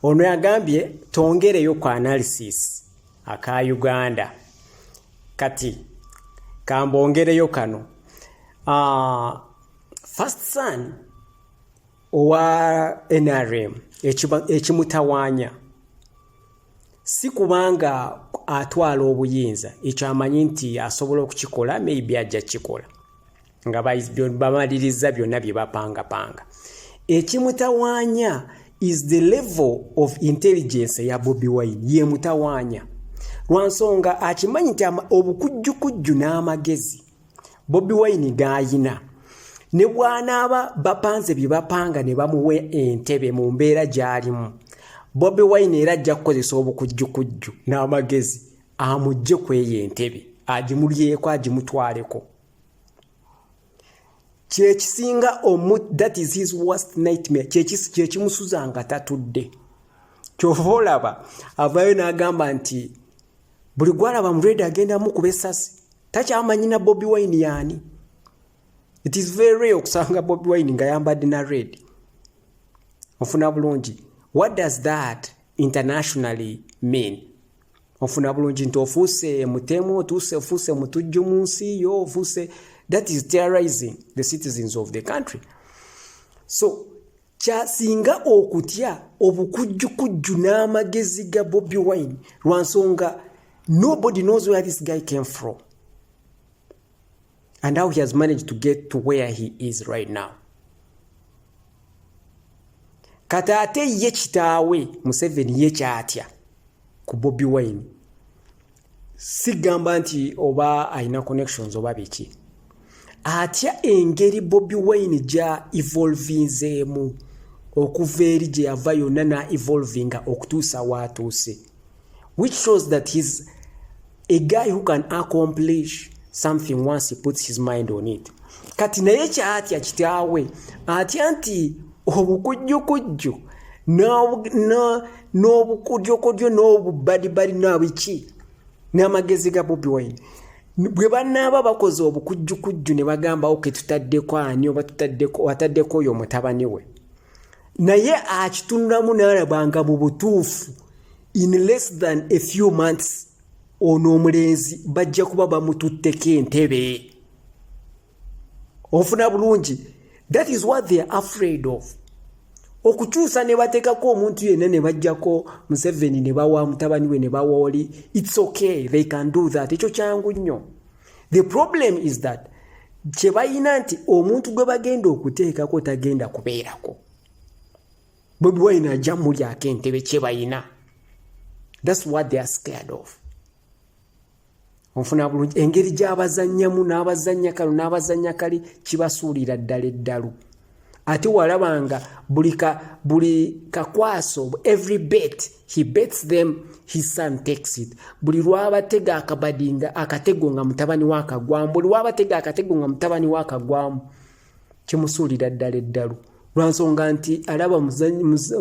Ono yagambye twongereyo ku analysis aka Uganda kati kambongereyo kano uh, first son owa NRM ekimutawanya si kubanga atwala obuyinza ekyo amanyi nti asobola okukikola maybe ajja kukikola nga bamalirizza byonna bye bapangapanga ekimutawaanya is the level of intelligence ya bobi wine ye mutawaanya lwansonga akimanyi nti obukujjukujju n'amagezi bobi wine gaayina ne bwanaaba bapanze bye bapanga ne bamuwa entebe mu mbeera gy'alimu bobi wine era ajja kukozesa obukujjukujju n'amagezi amugje kweyo entebe agimulyeko agimutwaleko kyekisinga omu that is his worst nightmare kyekimusuza nga tatudde kyova olaba avayo n'agamba nti buli gwalaba muredi agendamu kuba esasi takyamanyina bobi wine yaani it is very rare okusanga bobi wine nga yambadde na red ofuna bulungi what does that internationally mean ofuna bulungi nti ofuuse mutemu otuuse ofuuse mutujju mu nsi yo ofuuse that is terrorizing the citizens of the country so kyasinga okutya obukujjukujju n'amagezi ga bobi wine lwa nsonga nobody knows where this guy came from and how he has managed to get to where he is right now kati ate ye kitaawe museveni ye kyatya ku bobi wine sigamba nti oba alina connections oba biki atya engeri bobi wine gya evolvinzeemu okuva eri gye yava yonna na evolvinga okutuusa waatuuse which shows that he's a guy who can accomplish something once he puts his mind on it kati naye kyatya kitaawe atya nti obukujjukujju n'obukodyokodyo n'obubbadibbadi nabiki n'amagezi ga bobi wine bwe banaaba bakoze obukujjukujju ne bagamba oke tutaddeko ani oba tutaddeko oyo mutabani we naye akitunulamu nalaba nga mu butuufu in less than a few months ono omulenzi bajja kuba bamututteko entebe ofuna bulungi that is what they are afraid of okukyusa ne bateekako omuntu yenna ne bajjako museveni ne bawa mutabani we ne bawooli its okay they can do that ekyo kyangu nnyo the problem is that kye balina nti omuntu gwe bagenda okuteekako tagenda kubeerako bobi wine ajja mulyako entebe kye balina thats what they are scared of onfuna bulungi engeri gy'abazannyamu n'abazannya kalo n'abazannya kali kibasuulira ddala eddalu ate walabanga buli ka buli kakwaso every bet he bets them his son takes it buli lwabatega akabadinga akatego nga mutabani wakagwamu buli lwabatega akatego nga mutabani wakagwamu kimusuulira ddala eddalu lwansonga nti alaba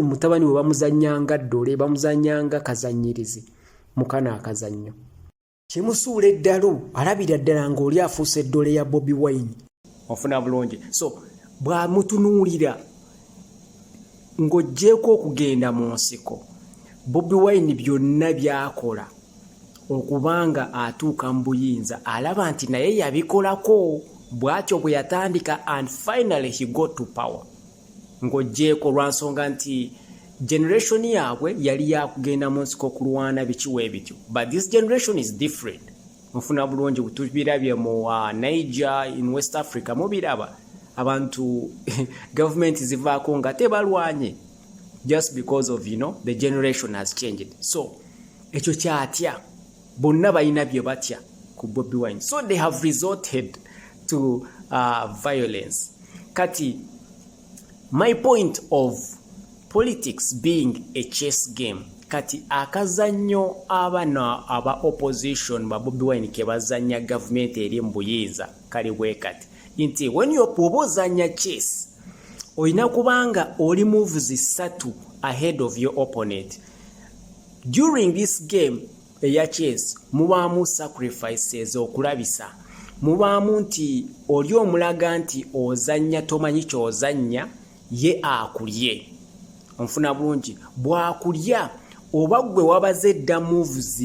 mutabani we bamuzanyanga ddole bamuzanyanga kazanyirizi mukana akazannyo kimusuula eddalu alabira ddala ng'oli afuusa eddole ya bobi wine ofuna bulungi so bwamutunuulira ng'oggyeeko okugenda mu nsiko bobi wine byonna byakola okuba nga atuuka mu buyinza alaba nti naye yabikolako bw'atyo bwe yatandika and finally he got to power ng'oggyeeko lwa nsonga nti generation yaabwe yali yakugenda mu nsiko okulwana bikiwa ebityo but this generation is different mufuna bulungi tubirabye mu uh, niger in west africa mubiraba abantu gavumenti zivaako nga tebalwanye just because of you know, the generation has changed so ekyo kyatya bonna balina bye batya ku bobi wine so they have resorted to uh, violence kati my point of politics being a chess game kati akazannyo abana aba opposition babobi wine kebazanya gavumenti eri mubuyinza kali bwekati nti wenioba ozanya chess olina kubanga oli moves satu ahead of your opponent during this game eya chess mubaamu sacrifices okulabisa mubaamu nti oli omulaga nti ozannya tomanyi kyozannya ye akulye onfuna bulungi bwakulya oba gwe wabaze edda moves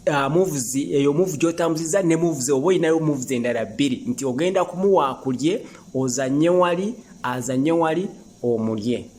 uh, moves eyo move gyotambuziza ne moves oba olinayo moves endala bbiri nti ogenda kumuwa akulye ozanye wali azanye wali omulye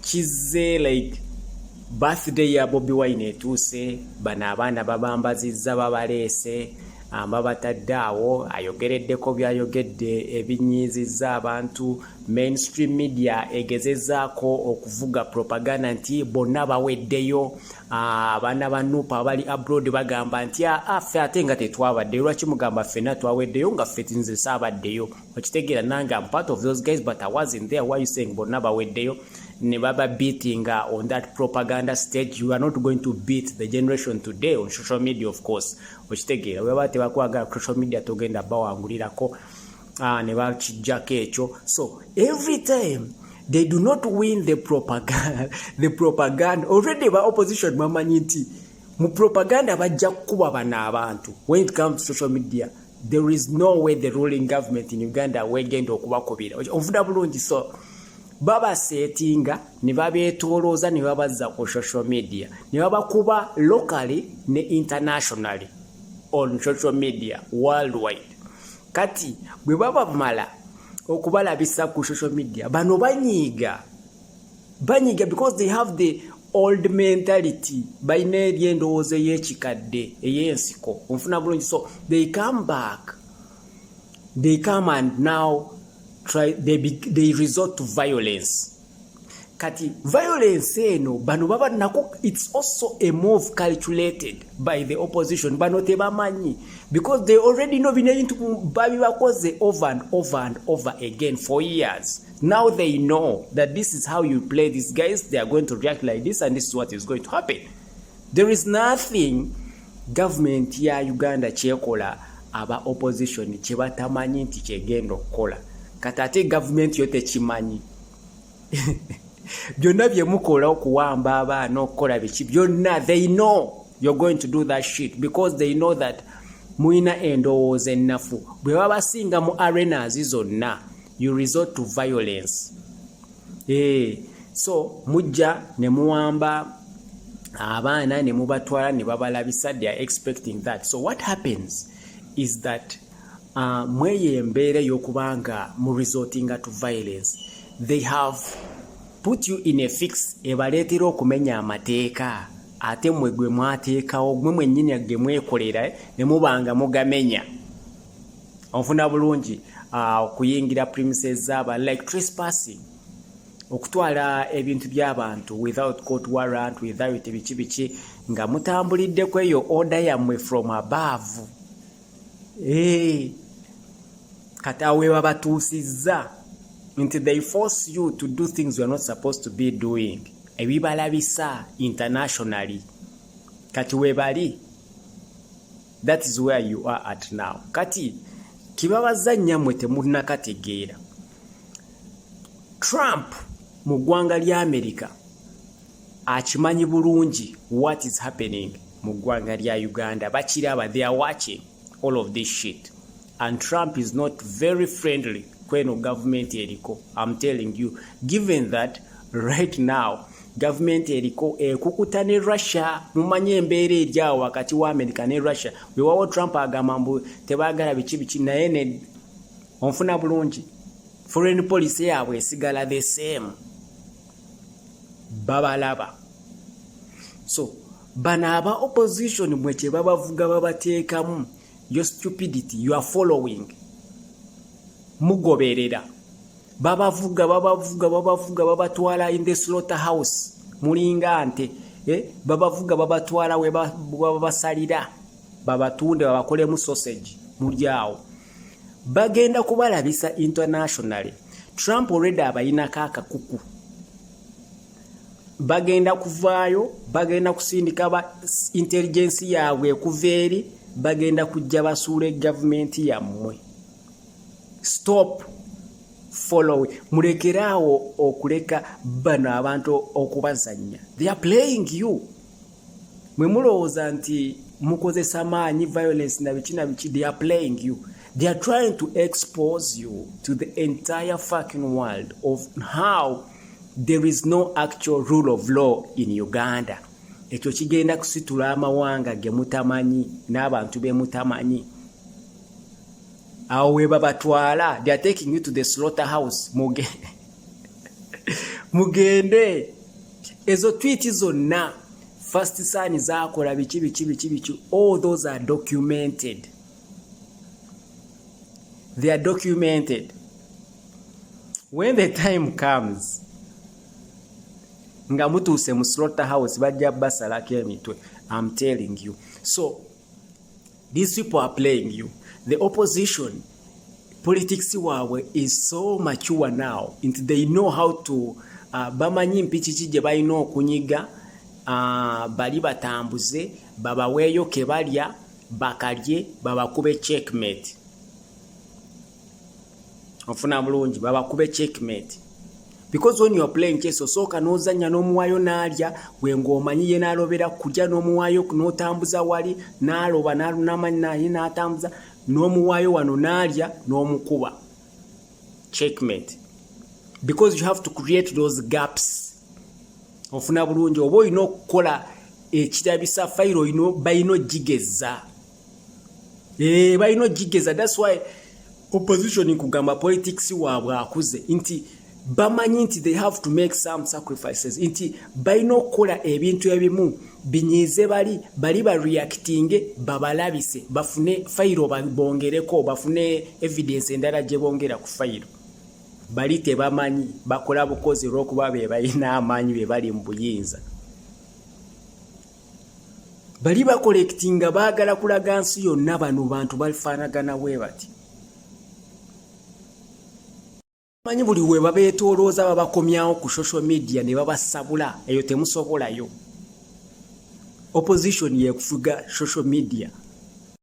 kizze like birthday ya bobi wine etuuse bano abaana babambazizza babaleese amba batadde awo ayogereddeko byayogedde ebinyiizizza abantu mainstream media egezezaako okuvuga propaganda nti bonna baweddeyo ah, abaana ba nupa abali abroad bagamba nti ah, ah, ffe ate nga tetwabaddeyo lwaki mugamba ffena twaweddeyo nga ffe tinze saabaddeyo okitegera nange am part of those guys but i wasn't there why you saying bonna baweddeyo ne baba beatinga on that propaganda stage you are not going to beat the generation today on social media of course okitegera webaba tebakwagala social media togenda bawangulirako ah, ne bakijjako ekyo so every time they do not win the propaganda, the propaganda. already ba opposition bamanyi nti mu propaganda bajja kukuba bana abantu when it comes to social media there is no way the ruling government in uganda wegenda okubakubira ovuda bulungi so babasetinga ne babetolooza ne babazza ku social media ne babakuba locally ne internationally on social media worldwide kati bwe babamala okubalabisa ku social media bano banyiiga banyiga because they have the old mentality balina eri endowooza eyekikadde eyensiko onfuna bulungi so they come back they come and now try, they, be, they resort to violence kati violence eno bano baba nako it's also a move calculated by the opposition bano tebamanyi because they already know bino ebintu babibakoze over and over and over again for years Now they know that this is how you play these guys. They are going to react like this and this is what is going to happen. There is nothing government ya Uganda chekola aba opposition chebatamanyi nti chegendo kola. Katate government yote chimanyi. Byonna bye mukola okuwamba abaana okukola biki byonna they know you're going to do that shit because they know that mulina endowooza ennafu bwe babasinga mu arenas zonna you resort to violence eh so mujja ne muwamba abaana ne mubatwala ne babalabisa they are expecting that so what happens is that uh, mweyo embeera ey'okuba nga mu resortinga to violence they have put you in a fix ebaleetera okumenya amateeka ate mwe gwe mwateekawo gwe mwennyini ge mwekolera ne muba nga mugamenya onfuna bulungi ah, okuyingira premises zaba like trespassing okutwala ebintu by'abantu without court warrant without biki biki nga mutambulidde ku eyo order yammwe from above hey. kati awo we babatuusizza nti they force you to do things you're not supposed to be doing ebibalabisa internationally kati webali that is where you are at now kati kibabaza nyamwe temunakategeera trump mu ggwanga lya america akimanyi bulungi what is happening mu ggwanga lya uganda bakiraba they are watching all of this shit and trump is not very friendly kweno gavumenti eriko am telling you given that right now gavumenti eriko ekukuta ne russia mumanye embeera eryawo wakati wa america ne russia wewawo trump agamba mbu tebagala biki biki naye ne onfuna bulungi foreign policy yaabwe esigala the same babalaba so bano aba opposition mwe kyebabavuga babateekamu your stupidity you are following mugoberera babavuga babavuga babavuga babatwala in the slaughter house mulinga nte eh? babavuga babatwala webabasalira babatunde babakolemu sausage mulyawo bagenda kubalabisa internationally trump already abayinako akakuku bagenda kuvaayo bagenda kusindika ba intelligence yaabwe ekuva eri bagenda kujja basuula egavumenti yammwe stop following mulekeraawo okuleka bano abantu okubazannya they are playing you mwe mulowooza nti mukozesa maanyi violence na biki na biki they are playing you they are trying to expose you to the entire fucking world of how there is no actual rule of law in uganda ekyo kigenda kusitula amawanga ge mutamanyi n'abantu be mutamanyi awo webabatwala they are taking you to the slaughter house muge mugende ezo twiti zonna first sani zakola biki biki biki biki all those are documented they are documented when the time comes nga mutuuse mu slaughter house bajja basalako emitwe am telling you so These people are playing you. The opposition politics waabwe is so mature now nti they know how to uh, bamanyi mpiki ki gye balina okunyiga uh, bali batambuze babaweeyo ke balya bakalye babakube checkmate ofuna bulungi babakube checkmate because when you're playing chess osooka n'ozannya n'omuwayo n'alya gwe ng'omanyi ye n'alobera kujja n'omuwayo n'otambuza wali n'aloba n'amanyi naye n'atambuza n'omuwayo wano n'alya n'omukuba checkmate because you have to create those gaps ofuna bulungi oba olina okukola ekirabisa fayiro bayina ogigeza ee eh, balina ogigeza thats why opposition kugamba politics waabwe akuze nti bamanyi nti they have to make some sacrifices nti balina okukola ebintu ebimu binyiize bali bali bareactinge babalabise bafune fayiro bongereko bafune evidence endala gye bongera ku fayiro bali tebamanyi bakola bukozi olw'okuba be balina amaanyi be bali mu buyinza bali bakolekiti nga baagala kulaga nsi yonna bano bantu bafaanagana we bati manyi buli we babeetoolooza babakomyawo ku social media ne babasabula eyo temusobolayo opposition yekufuga social media